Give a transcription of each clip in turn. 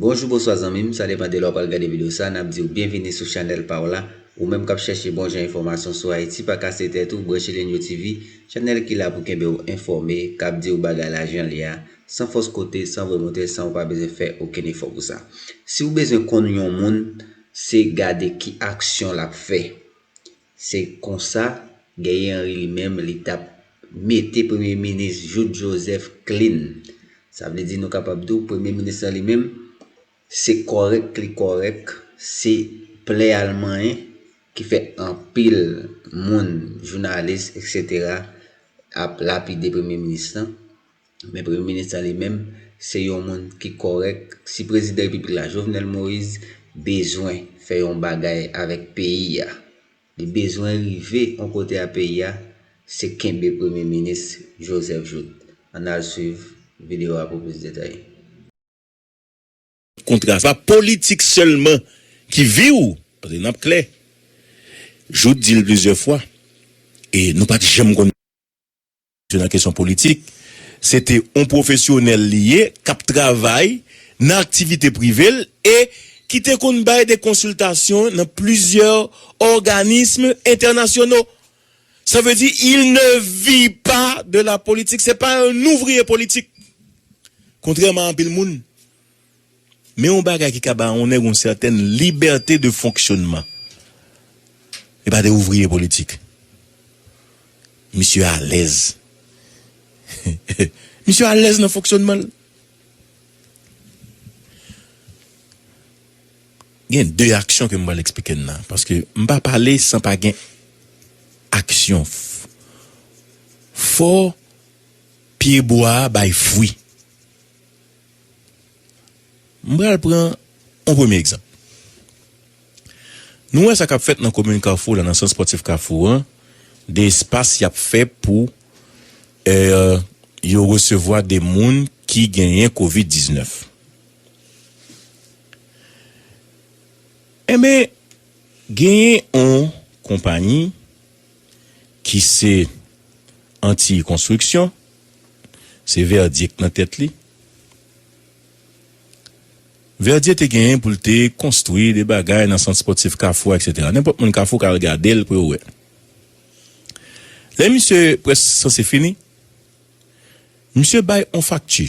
Bonjou bonswa zanmim sa depan de lè w pral gade video sa nap diw byenvini sou chanèl paw la ou menm kap chèche bon jan enfòmasyon sou ayiti pa kase tèt ou branche Lenyo TV chanèl ki la pou kenbe w enfòme kap diw bagay la jan l ye a san fòs kote san vwe moute san ou pa bezwen fè okenn efò pou sa si w bezwen konn yon moun se gade ki aksyon lap fè Se konsa, Guerrier Henry li menm li t ap mete premye minis Jouthe Joseph klin. Sa vle di nou kapab di w premye minis lan li menm se kòrèk li kòrèk, se plè a l manyen ki fè anpil moun, jounalis eksetera ap lapide premye minis lan. Men premye minis la li menm se yon moun ki kòrèk, si prezidan repiblik la Jovenel Moise bezwen fè yon bagay avèk peyi a, li bezwen rive yon kote a peyi a, se kenbe premye minis Joseph Jouthe. Ann al swiv videyo a pou plis detay. Kontra sa politik sèlman ki viw pase nap klè Jouthe dil plizyè fwa e nou pat janm konn se nan kesyon politik se te on pwofesyonèl li ye kap travay nan aktivite privel e ki te konn bay de konsiltasyon nan plizyè òganism entènasyono. Sa vle di il ne vi pa de la politik, se pa yon ouvriye politik. Kontrèman a anpil moun. Men yon bagay ki ka ba yon nèg yon sètèn libète de fonksyonman. Li pa de ouvriye politik. Misye alèz. Misye alèz nan fonksyonman l. Gen 2 aksyon ke m pral eksplike n la. Paske m pa pale san pa gen aksyon. Fò pye bwa a bay fwi. M pral pran yon premye egzanp. Nou wè sa k ap fèt nan komin Kafou la, nan sant spòtif Kafou an, de espas y ap fè pou yo resevwa de moun ki genyen covid 19. Enben, genyen on konpayi ki se Antiy Konstriksyon, se Verdye k nan tèt li. Verdye te genyen pou l te konstwi de bagay nan Sant Spòtif Kafou a eksetera. Nenpòt moun Kafou ka al gade l pou yo wè. Lè misye prèsk sanse fini, misye bay on fakti.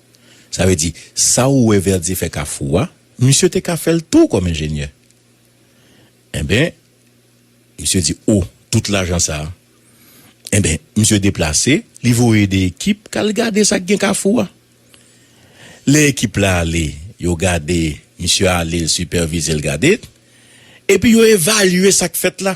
Sa vle di, sa ou wè Verdier fè Kafou a, misye te ka fè l tou kòm enjenyè. Enben, misye di o, tout lajan sa a. Enben, misye deplase, li voye 2 ekip k al gade sa k gen Kafou a. Lè ekip la ale, yo gade, misye ale l sipèvize l gade, epi yo evalye sa k fèt la.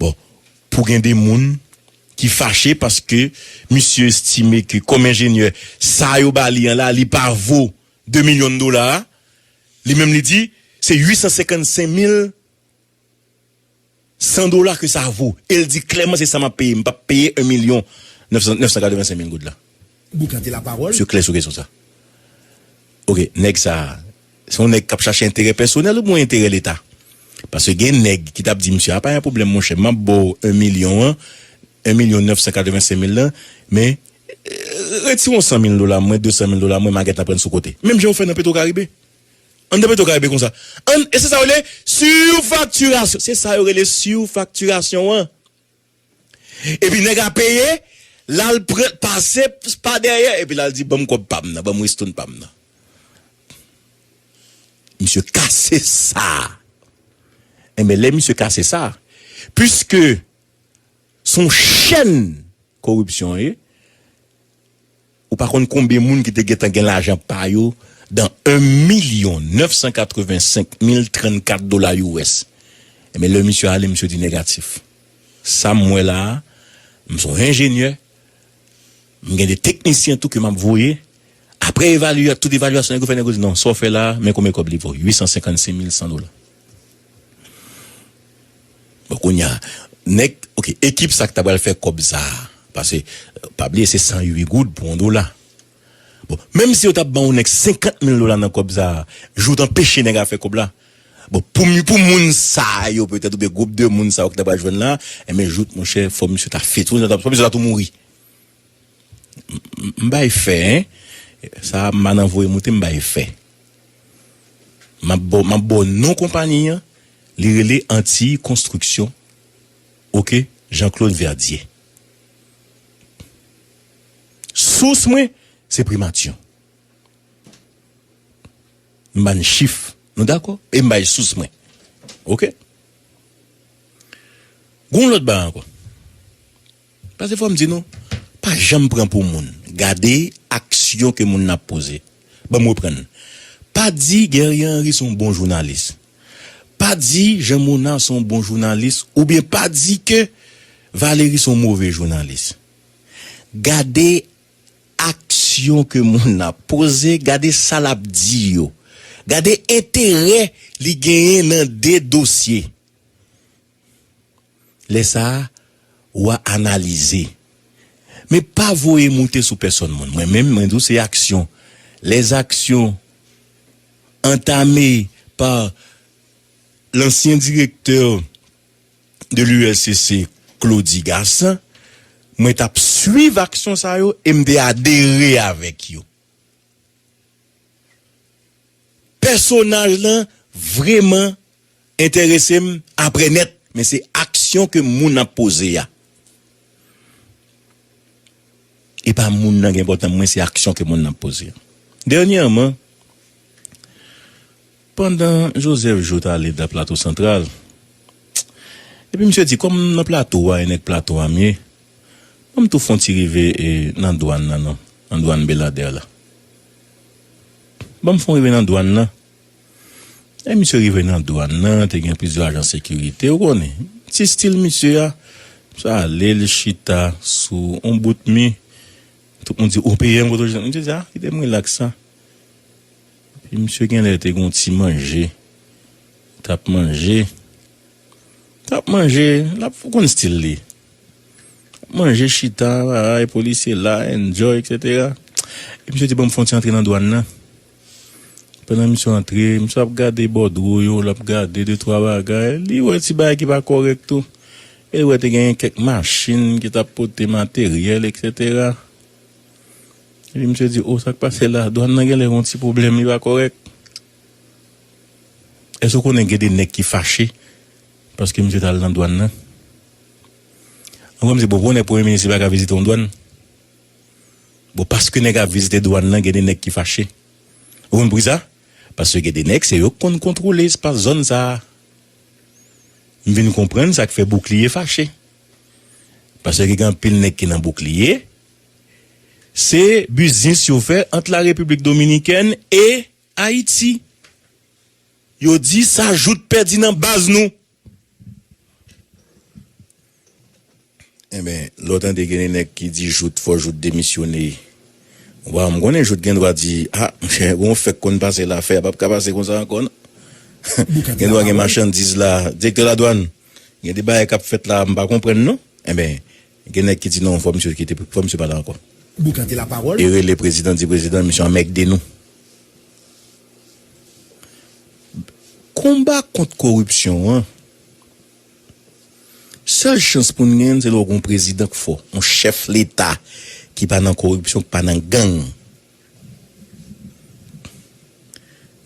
Bon, pou gen de moun ki fache paske misye estime ke kòm enjenyè, sa yo ba li an la, li pa vo 2 milyon dola a. Li menm li di, se 855 mil 100 dola ke sa vo. E l di klèman se sa m ap peye. M p ap peye 1 milyon 985 mil goud la. Bout la te la pawol. Misye klè sou kesyon sa. Ok, nèg sa a, se yon nèg k ap chache enterè pèsonèl oubyen enterè leta? Paske gen nèg ki t ap di misye a pa yon pwoblèm monchè, m ap ba w 1 milyon an, 1 milyon 985 mil lan, men, retire yon 100 mil dola mwen, 200 mil dola mwen, m a gentan pran sou kote. Menm jan yo fè nan Petwokaribe. Anndan Petwokaribe konsa. Ann, e se sa yo rele, surfacturation! Se sa yo rele surfacturation an! Epi nèg la peye, l al pran, pase pa dèyè, epi l al di ban m kòb pa m nan, ban m ristoun pa m nan. Misye kase sa a. Enben lè misye kase sa, piske s on chèn koripsyon l ye, Ou pa konn konbyen moun ki te gentan gen lajan pa yo dan 1 milyon 985 mil 34 dola US. Enben lè misye ale misye di negatif. Sa m wè la a, m son enjenyè, m gen 2 teknisyen tou ke m ap voye, apre evalya tout evalyasyon nèg yo fè nèg yo di non sa w fè la a men konbyen kòb li vo 856 mil 100 dola. Bon kounya nèg ok ekip sa ki ta pral fè kòb sa pase pa bliye se 108 goud pou yon dola bon menm si yo ta banw nèg 50 mil dola nan kòb sa jou w t anpeche nèg a fè kòb la bon poum pou moun sa yo petèt oubyen gwoup de moun sa yo ki ta pral jwenn la enben jout monchè fò misye ta fit fò misye ta tou mouri. M bay fè hein sa manan voye moute m bay fè map baw map baw non konpani an li rele antiy konstriksyon ok jean claude verdier sous mwen se primatyon m bann chif nou dakò e m bay sous mwen ok gon lòt bagay ankò. Pase fòm di nou pa janm pran pou moun gade aksyon ke moun nan ap poze banm reprann pa di Guerrier Henry son bon jounalis pa di Jean Monard son bon jounalis oubyen pa di ke Valery son move jounalis gade aksyon ke moun nan ap poze gade sa lap di yo gade enterè li genyen nan 2 dosye. Lè sa a, wa analize. Men pa voye moute sou pèsòn moun. Mwen menm, mwen di w se aksyon. Les actions entamées par l'ancien directeur de l'ULCC, Claudy Gassant, mwen t ap swiv aksyon sa yo e m te adere avèk yo. Pèsonaj lan vreman enterese m aprè nèt men se aksyon ke moun ap poze a e pa moun nan gen enpòtan pou mwen se aksyon ke moun nan ap poze a dènyèman. Pandan Joseph Joe t ale da Plato Santral, epi misye di, kòm m nan Plato a e nèg Plato a m ye, ban m tou fon ti rive nan dwann nan non, nan dwann Beladè la. Ban m fon rive nan dwann nan. E misye rive nan dwann nan, te gen plizyè ajan sekirite, ou konnen, ti stil misye a, misye ale l chita sou yon bout mi, tout moun di, ou peye m kote w chita? Misye di, a, kite m rilaks sa. Epi misye genlè te gon ti manje tap manje tap manje lap ou konn stil li ap manje chita baay polisye la enjoy etc epi misye di banm fon ti antre nan dwann nan pandan misye antre misye ap gade bòdwo yo lap gade de twa bagay li wè ti bagay ki pa kòrèk tou e li wè te genyen kèk machin ki tap pote materyèl etc Epi misye di oh sak pase la dwan nan genlè gon ti pwoblèm li pa kòrèk. Èske ou konnen gen de nèg ki fache paske misye tal nan dwan nan? Mwen kwè misye bon pou nèg premye minis li paka vizite yon dwan. Bon paske nèg ap vizite dwan nan gen de nèg ki fache. Ou konn poukisa? Paske gen de nèg se yo ki konn kontwole espas zòn sa. M vin konprann sak fè boukliye fache. Paske gen anpil nèg ki nan boukliye Se biznis yo fè ant la Repiblik Dominikèn e Ayiti. Yo di sa jout pèdi nan baz nou. Enben, lè w tande gen de nèg ki di jout fò jout demisyone. Waw, m konnen jout gen dwa di, a, monchè, gen yon fè k konn pase la, fè a p ap ka pase konsa ankò non. Gen dwa gen machandiz la, direktè ladwàn, gen de bagay k ap fèt la m pa konprann non. Enben. Gen nèg ki di non fò misye kite fò misye pa la ankò. Boukan te la pawòl. E rele prezidan di prezidan misye anmègde nou. Konba kont koripsyon an sèl chans pou n genyen l se lè w gen yon prezidan k fò, yon chèf leta ki pa nan koripsyon, ki pa nan gang.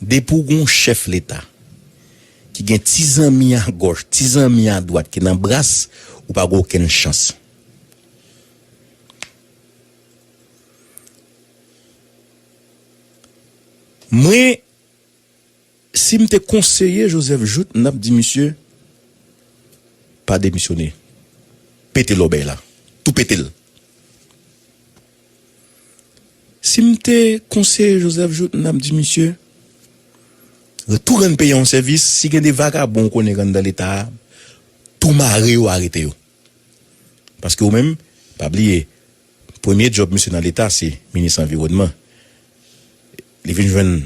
Depi w gon chèf leta ki gen ti zanmi a gòch, ti zanmi a dwat ki nan bras, ou pa gen okenn chans. Mwen Sim te konseye Joseph Jouthe m tap di misye pa demisyone pete lòbèy la tou petel sim te konseye Joseph Jouthe m tap di misye tou rann peyi a yon sèvis si gen de vagabon ou konnen k anndan leta a tou mare yo arete yo paske ou menm pa bliye Premye djòb misye nan leta se minis anviwònman. Li vin jwenn,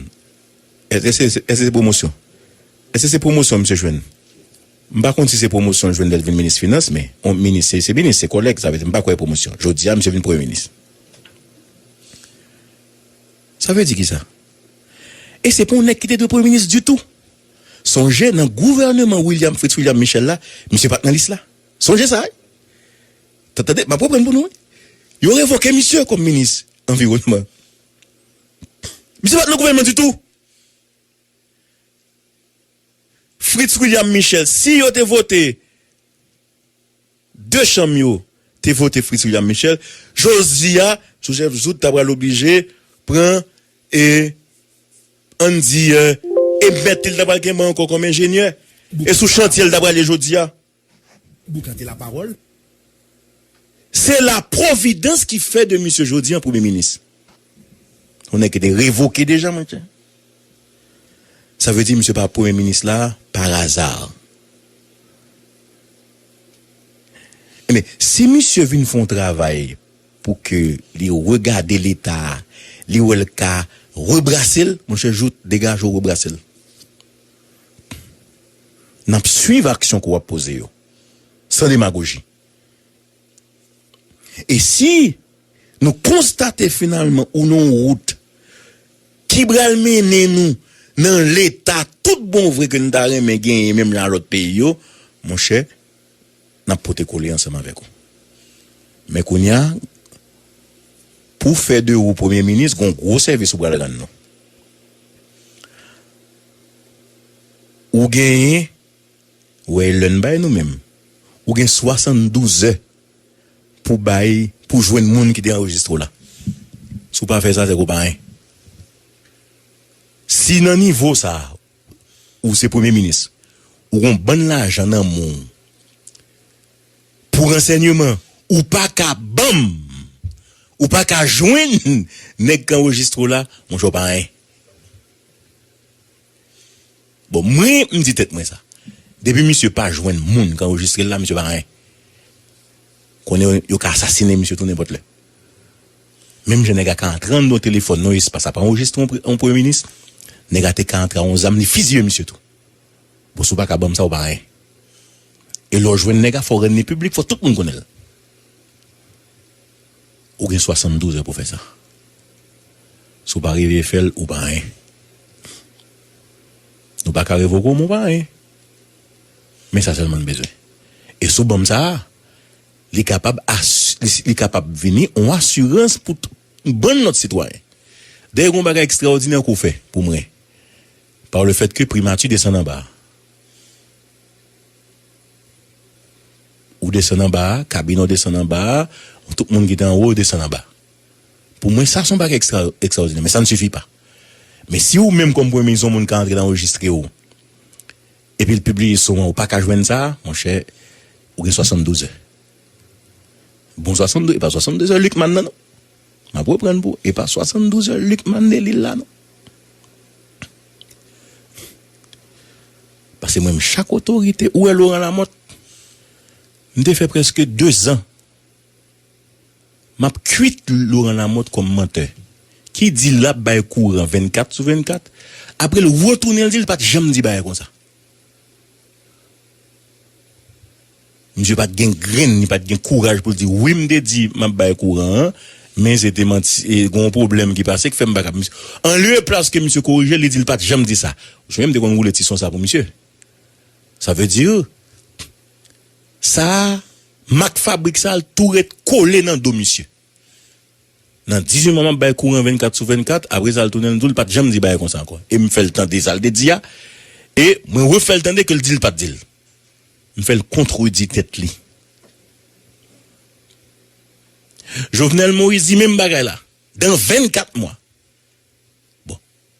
èske se pwomosyon? Èske se pwomosyon misye jwenn? M pa konn si se pwomosyon l jwenn lè l vin minis finans men yon minis se minis, se kòlèg sa vle di m pa kwè pwomosyon. Jodi a misye vin premye minis. Sa vle di kisa? E se pa yon nèg ki te dwe premye minis ditou. Sonje nan gouvèneman William Fritz William Michel la misye pat nan lis la. Sonje sa wi. Tande, m ap reprann pou nou wi. Yo revoke misye kòm minis anviwònman. Misye pa t nan gouvènman ditou. Fritz William Michel, si yo te vote, 2 chanm yo te vote Fritz William Michel, jodi a Joseph Jouthe ta pral oblije pran e an n di e mèt li l ta pral kenbe ankò kòm enjenyè. E sou chantye l ta prale jodi a. Boukante la parole. Se la providence ki fè de misye jodi an premye minis. Yon nèg ki te revoke deja mwen chè. Sa vle di misye pa premye minis la par hasard. Ebyen si misye vin fè yon travay pou ke li regade leta a li wè l ka rebrase l monchè jout degaje w rebrase l. N ap suiv aksyon ke w ap poze yo, san demagoji. E si nou konstate finalman ou nan yon wout ki pral mennen nou nan leta tout bon vre ke n ta renmen genyen menm jan a lòt peyi yo, monchè, nap pote kole ansanm avèk ou men kounya pou fè de ou premye minis gon gwo sèvis ou pral rann nou ou genyen wè lè n bay nou menm ou gen 72 zè pou bay pou jwenn moun ki te anrejistre w la si w pa fè sa se ke w pa anyen si nan nivo sa. ou se premye minis ou gon bann lajan nan men w pou ransènyeman ou pa ka banm ou pa ka jwenn nèg k anrejistre w la monchè w pa anyen bon mwen m di tèt mwen sa depi misye pa jwenn moun k anrejistre l la misye pa anyen konnen yo ka asasinen misye tou nenpòt lè. Menm jan nèg a ka antre anndan yon telefòn, yon espas ap anrejistre yon premye minis, nèg a te ka antre ak yon zam li fiziye misye tou. Bon si w pa ka ban m sa ou pa anyen. E lè w jwenn nèg a fò w rann li piblik, fò tout moun konnen l. Ou gen 72 è pou w fè sa. Si w pa rive fè l ou pa anyen. Nou pa ka revoke w men w pa anyen. Men sa sèlman n bezwen. E sou ban m sa a. Li kapab li kapab vini yon asirans pou bann lòt sitwayen. Dayè gon bagay ekstraòdinè ke w fè pou mwen par le fait ke Primati desann anba a. Ou desann anba a, kabinè w desann anba a, tout moun ki te anwo yo desann anba. Pou mwen sa se yon bagay ekstra ekstraòdinè men sa ne sifi pa. Men si ou menm kòm Premye Minis yon moun ka antre nan rejistre w. Epi l pibliye son an ou paka jwenn sa monchè ou gen 72 è bon 72 epa 72 è Luckman nan non map reprann pou ou epa 72 è Luckman Delil la non pase mwen menm chak otorite ou wè Laurent Lamothe m te fè preske 2 zan. Map kwit Laurent Lamothe kòm mantè ki di lap bay kouran 24 sou 24 apre l retounen l di l pat janm di bagay konsa. Misye pat gen grenn li pat gen kouraj pou l di wi m te di map bay kouran an men se te manti e gen yon pwoblèm ki pase ki fè m pa kab an lye e plas ke misye korije l li di l pat janm di sa. Ou sonje m te konn woule ti son sa pou misye sa vle di Sa a, mak fabrik sa l tou ret kole nan do misye. Nan 18 mwa m ap bay kouran 24 sou 24, apre sa l tounen l di w l pa t janm di bagay konsa ankò. E m fè l tande sa l te di a, e mwen refè l tande ke l di l pa t di l. M fè l kontredi tèt li. Jovenel Moïse di menm bagay la, dan 24 mwa. Bon.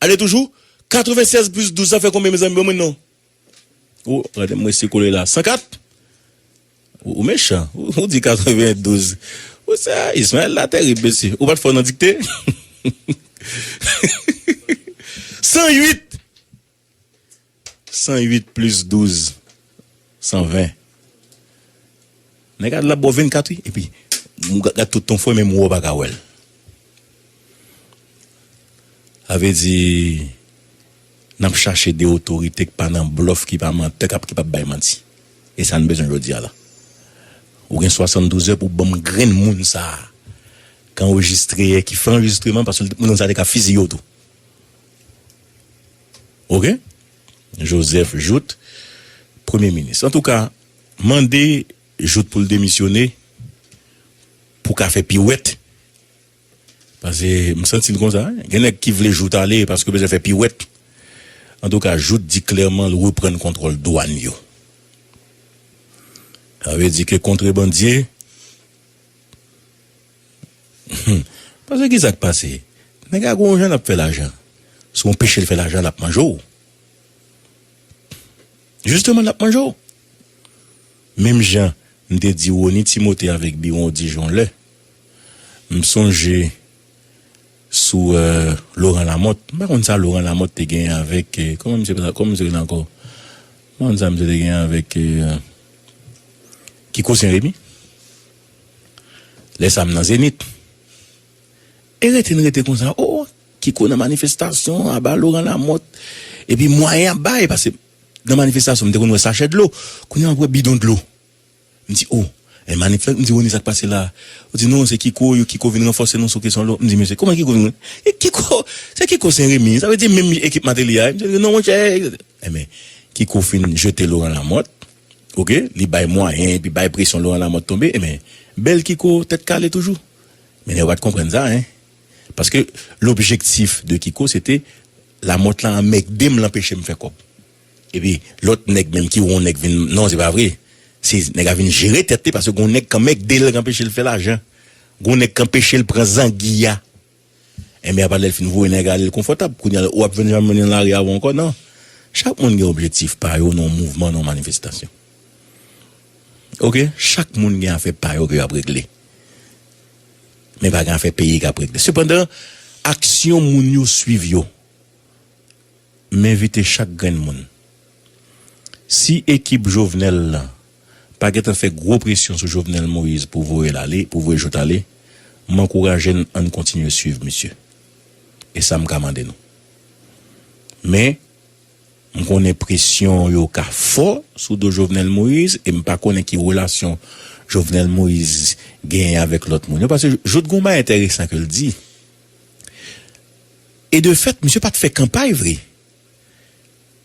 Ale toujou 96 plis 12 sa fè konbyen mezanmi ban mwen non oh gade m resi kole la 104 ou mechan ou di 92 ou sa Ismael la tèrib mesye ou pat fò nan dikte 108 108 plis 12 120 Nèg a la bò 24 wi epi ou gad tout ton fwe menm ou a ou pa ka wèl Sa vle di nap chache 2 otorite ki pa nan blòf ki pa mantè kap ki pap bay manti e sa n bezwen jodi a la Ou gen 72 è pou banm grenn moun sa ki anrejistre ki fè anrejistreman paske li te konn sa li te ka fiziye w tou. Ok Joseph Jout premye minis antouka mande Jout poul demisyone pou ka fè piwèt pase m santil konsa gen nèg ki vle Jout ale paske bezwen fè piwèt antouka Jout di klèman l reprann kontròl dwàn yo sa vle di ke kontrebandye. Humm pase kisak pase nèg a gon jan lap fè lajan si ou pechel fè lajan lap manje w jisteman lap manje w menm jan m te di Rony Timothé avèk Biron Dij yon lè m sonje sou Laurent Lamothe m pa konn sa Laurent Lamothe te genyen avèk kòman misye te rele ankò m pa konn sa misye te genyen avèk Kiko Senremi. Lè sa m nan Zenith. E rete n rete konsa o Kiko nan manifestasyon aba Laurent Lamothe epi mwayen ap bay pase nan manifestasyon m te konn wè sachè dlo kounye a m ap wè bidon dlo m di o e manifes m di Rony sa k pase la yo di non se Kiko yo Kiko vin ranfòse nou sou kesyon dlo m di mesye kòman Kiko vin e Kiko se Kiko Sen Remi sa vle di menm ekip Mateli a e m di non monchè e men Kiko fin jete Laurent Lamothe. Ok li bay mwayen epi bay presyon Laurent Lamothe tonbe e men bèl Kiko tèt kale toujou men nèg yo pat konprann sa hein paske lobjektif de Kiko se te Lamothe lan anmègde m l anpeche m fè kòb epi lòt nèg menm ki wè yon nèg vin non se pa vre se nèg la vin jere tèt li paske gon nèg k anmègde l k anpeche l fè lajan gon nèg k anpeche l pran zangi a. Enben apa lèl fin voye nèg alel konfòtab kounya ou ap vin janm mennen lari avèw ankò nan chak moun gen objektif pa yo nan yon mouvman nan yon manifestasyon ok chak moun gen afè pa yo ke yo ap regle men pa gen afè peyi kap regle sepandan aksyon moun yo swiv yo m envite chak grenn moun si ekip Jovenel lan. pa gentan fè gwo presyon sou Jovenel Moïse pou voye l ale, pou voye Jouthe ale, m ankouraje n ann kontinye swiv misye. E sa m ka mande nou. Men, m konnen presyon yo ka fò sou do Jovenel Moïse e m pa konnen ki relasyon Jovenel Moïse genyen avèk lòt moun yo paske Jouthe gen yon bagay enteresan ke l di e de fèt misye pa t fè kanpay vre.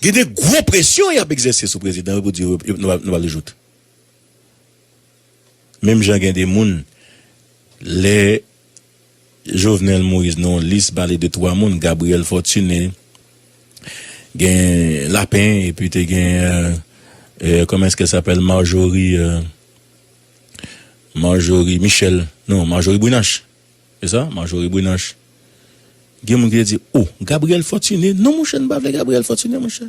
Gen de gwo presyon y ap egzèse sou prezidan yo pou di yo nou pa vle joute. Menm jan gen de moun lè Jovenel Moïse nan yon lis pale de 3 moun, Gabriel Fortuné, gen Lapin epi te gen kòman èske sa pèl Marjorie Marjorie Michel non Marjorie Brunache E sa Marjorie Brunache gen moun ki te di oh Gabriel Fortuné non monchè nou pa vle Gabriel Fortuné monchè.